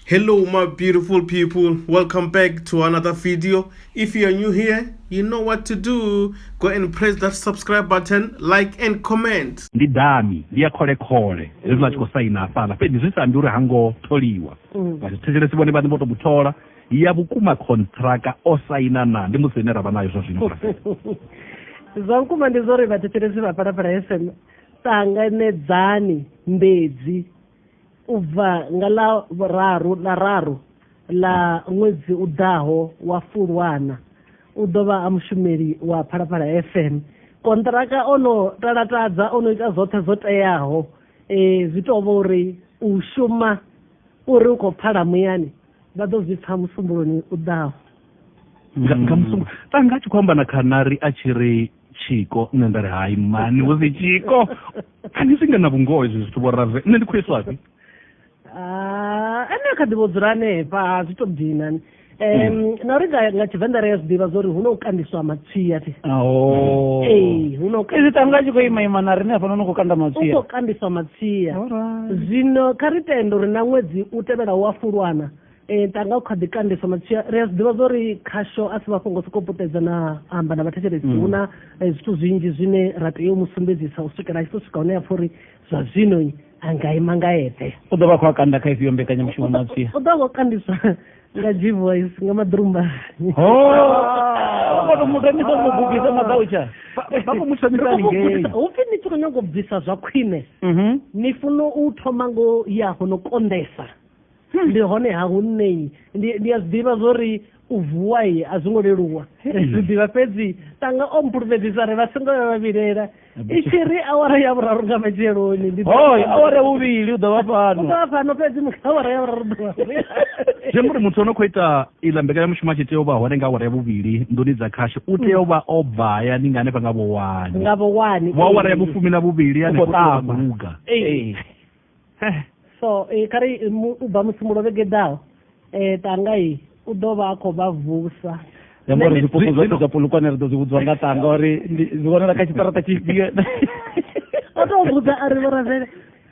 hello my beautiful people welcome back to another video if you are new here you know what to do go and press that subscribe button like and comment ndi dami ndi ya khole khole zwi zwa tshiko saina hafhala fhedzi zwi sa ndi uri hango tholiwa mm. vha thetshelesi vhone vhane vho to muthola ya vhukuma contractor o saina na ndi musi ine ra vha nayo zwa zwino zwa vhukuma ndi zwo ri vhathetshelesi vha phalaphala fm ṱanganedzani mbedzi u bva nga ḽa vhuraru ḽa raru ḽa ṅwedzi u ḓaho wa Fulwana u ḓo vha a mushumeli wa Phalaphala FM konṱiraka o no talatadza o no ita zwoṱhe zwo teaho eh zwi tou vha uri u shuma uri u khou pfala muyani vha ḓo zwi pfa musumbuloni u ḓaho nga nga musumbu tanga a tshi khou amba na khanari a tshi ri tshiko nṋe nda ri hai mani hu si tshiko a ni swinga na vhungoho izwi zwithu vhorave nṋe ndi khou iswafhi ah, ene kha ḓi vho dzula hanefha ha zwi to dina um hmm. na uri nga tshivenḓa ri a zwi ḓivha zwauri hu na u kandiswa matsia ti oh. ee hu na u izi tanga a tshi khou ima ima na rine hafhano ni khou kanda matsia u khou kandiswa matsia zwino kha ri tende uri na ṅwedzi u tevhela u a fulwana ee eh, tanga u kha ḓi kandisa matshia ri a zwi ḓivha zwa uri khasho a si mafhungo sokou puṱedza na amba na vhathetshelesi mm. hu na eh, zwithu zwinzhi zwine ra tea u mu sumbedzisa u swikela a tshi to swika hune ya pfha uri zwa zwino a nga ima nga eṱhe u ḓo vha khou a kanda kha ifhio mbekanyamushumo matshia u ḓo vha o kandiswa nga g voice nga madrumba ho kono muthu ni songo bubisa madautsha vha khou muthamisa lingei upfi ni tshi khou nyanga u bvisa zwa khwine mhm. ni funa u thoma ngo ya hono kondesa ndi hone ha hu nṋei ndi a zwi ḓivha zwo ri u vuwa ye a zwi ngo leluwa ri zwi ḓivha fhedzi tanga o mpulumedzisa re vha songo vha vhavilela i tshi ri awara ya vhuraru nga matsheloni hoi awara ya vhuvhili u ḓo vha fhano vha fhano fhedzi awara ya vhuraru ḓuvha zwi amba uri muthu o no khou ita iḽa mbekanyamushumo a tshi tea u vha hone nga awara ya vhuvhili nḓuni dza khasho u tea u vha o bva hayani nga hanefha nga vhowani nga vhowani vho awara ya vhufumi na vhuvhili hanefho luga eh, so eh, kha ri u bva musi mulovhe geḓaho um tanga i u ḓo vha a khou vha vusa yamba uri zwipuku zwo ita zwa polukwane ri ḓo zwi vhudziwa nga tanga uri zwi vhonela kha tshiṱarata tshifhio o tou vhudza a ri vhoravele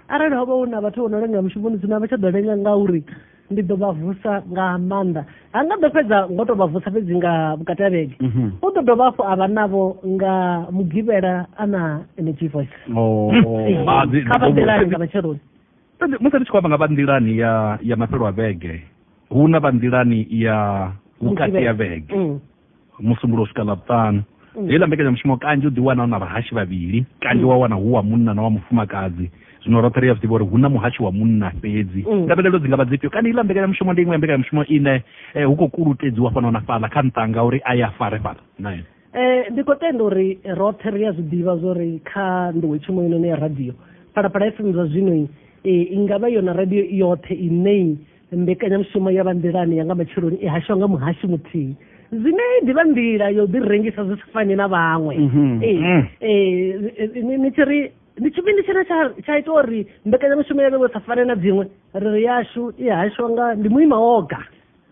arali ho vha hu na vhathu vho no lenga mushumoni zwino a vha tsha ḓo lenga ngauri ndi ḓo vha vusa nga maanḓa ha nga ḓo fhedza ngo tou vha vusa fhedzi nga vhukati ha vhege mhm. u ḓo dovha hafhu a vha navho nga mugivhela a na energy voice oh. kha vha nḓilani nga matsheloni musi ri tshi khou amba nga vha nḓilani ya ya mafhelo a vhege hu na vha nḓilani ya vhukati ya vhege mm. musumbuluwo u swika ḽavhuṱanu mm. heiḽa mbekanyamushumo kanzhi u ḓi wana u na vhahashi vhavhili kanzhi mm. wa wana hu wa munna na wa mufumakadzi zwino roṱhe ri a zwiḓivha uri hu na muhashi wa munna fhedzi mm. ndavhelelo dzi nga vha dzifhio kana iḽa mbekanyamushumo ndi iṅwe ya mbekanyamushumo ine eh, hu khou kulutedziwa fhano na fhaḽa kha nṱanga uri a ya fare fhaḽa nae eh, ndi khou tenda uri roṱhe ri a zwi ḓivha zwo ri kha nḓowetshumo inoni ya radio phalaphala fm zwa zwino i eh, nga vha yona radio yoṱhe inei mbekanyamushumo ya vha nḓilani ya nga matsheloni i hashiwa nga muhashi muthihi zwine ndi vha nḓila yo ḓi rengisa zwi si fani na vhaṅwe mhm. mm. ni tshi ri ndi tshifhinga tshine tsha ita uri mbekanyamushumo ya vhewe sa fane na dziṅwe ri ri yashu i hashiwa nga ndi muima woga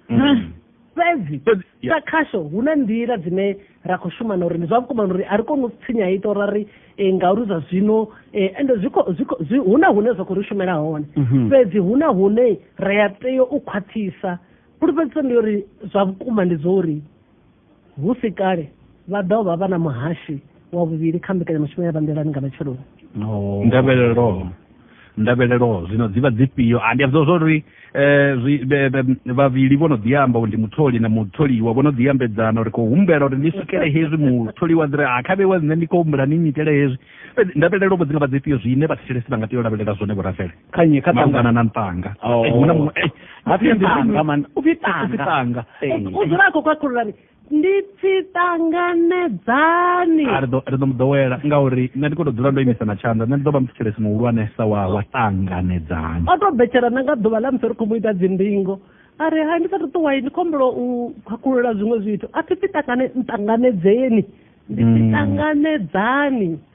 mm. fhedzi sa khasho hu na nḓila dzine ri a khou shuma na uri ndi zwa vhukuma uri a ri koni u tsinya ita uri ri eh, ngauri zwa zwino eh, ende hu na hune zwa khou ri shumela hone mhm. fhedzi hu na hune ri a tea u khwaṱhisa fhulufhedziso ndi uri zwa vhukuma ndi zwo uri hu si kale vha ḓo vha vha na muhashi wa vhuvhili kha mbekanyamushumo ya vhanḓelani nga matsheloni oh. ndavhelelo ndavhelelo zwino dzi vha dzifhio a ndi ambiwa zwa uri um vhavhili vho no ḓi amba uri ndi mutholi na mutholiwa vho no ḓi ambedzana uri khou humbela uri ni swikele hezwi mutholiwa dzi ri ha kha vheiwa nṋe ndi khou humbela ni nyitele hezwi fhedzi ndavhelelo vho dzi nga vha dzifhio zwine vhathetshelesi vha nga tea u lavhelela zwone vhorafele khanye kha malugana na ntanga oh. eh, hu na muṅwe eh, upfi tanga u dzula a khou khakhululani ndi pfi ṱanganedzani ri ḓo mu ḓowela ngauri nṋe ndi khou tou dzula ndo imisa na tshanḓa nṋe ndi ḓo vha muthetshelesi muhulwanesa wa wa ṱanganedzani o tou betshela na nga ḓuvha ḽa musi ri khou mu ita dzindingo a ri hai ndi sa ṱuṱuwai ndi khombolo u khakhulula zwiṅwe zwithu a thi pfi ṱangane nṱanganedzeni ndi pfi mm. ṱanganedzani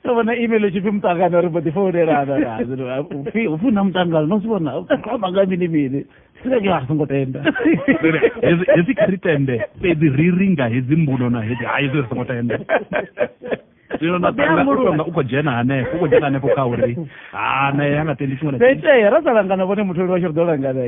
ndo vhona email i tshi pfi muṱangano ri mbo ḓi founelanaupfi hu na muṱangano no zwi vhona amba nga mini mini sireke a songo tenda hezwi kha ri tende fhedzi ri ri nga hedzi mbuno na hedzi hai zwi ri songo tenda zwino na u khou dzhena hanefho u khou dzhena hanefho kha uri kana ya nga tendi tshiṅwe naitea ra sa langana vhone mutholi vha tshi ri ḓo langana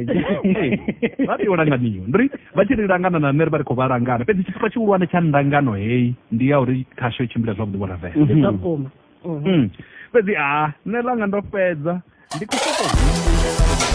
vha ri yo langaniwa ndi ri vha tshi ri langana na nṋe ri vha ri khou vha langana fhedzi tshifha tshihulwane tsha ndangano heyi ndi ya uri khasho i tshimbila zwavhuḓi vho ravela mhm. mhm. hmm. fhedzi a nṋe langa ndo fhedza ndi khou sokou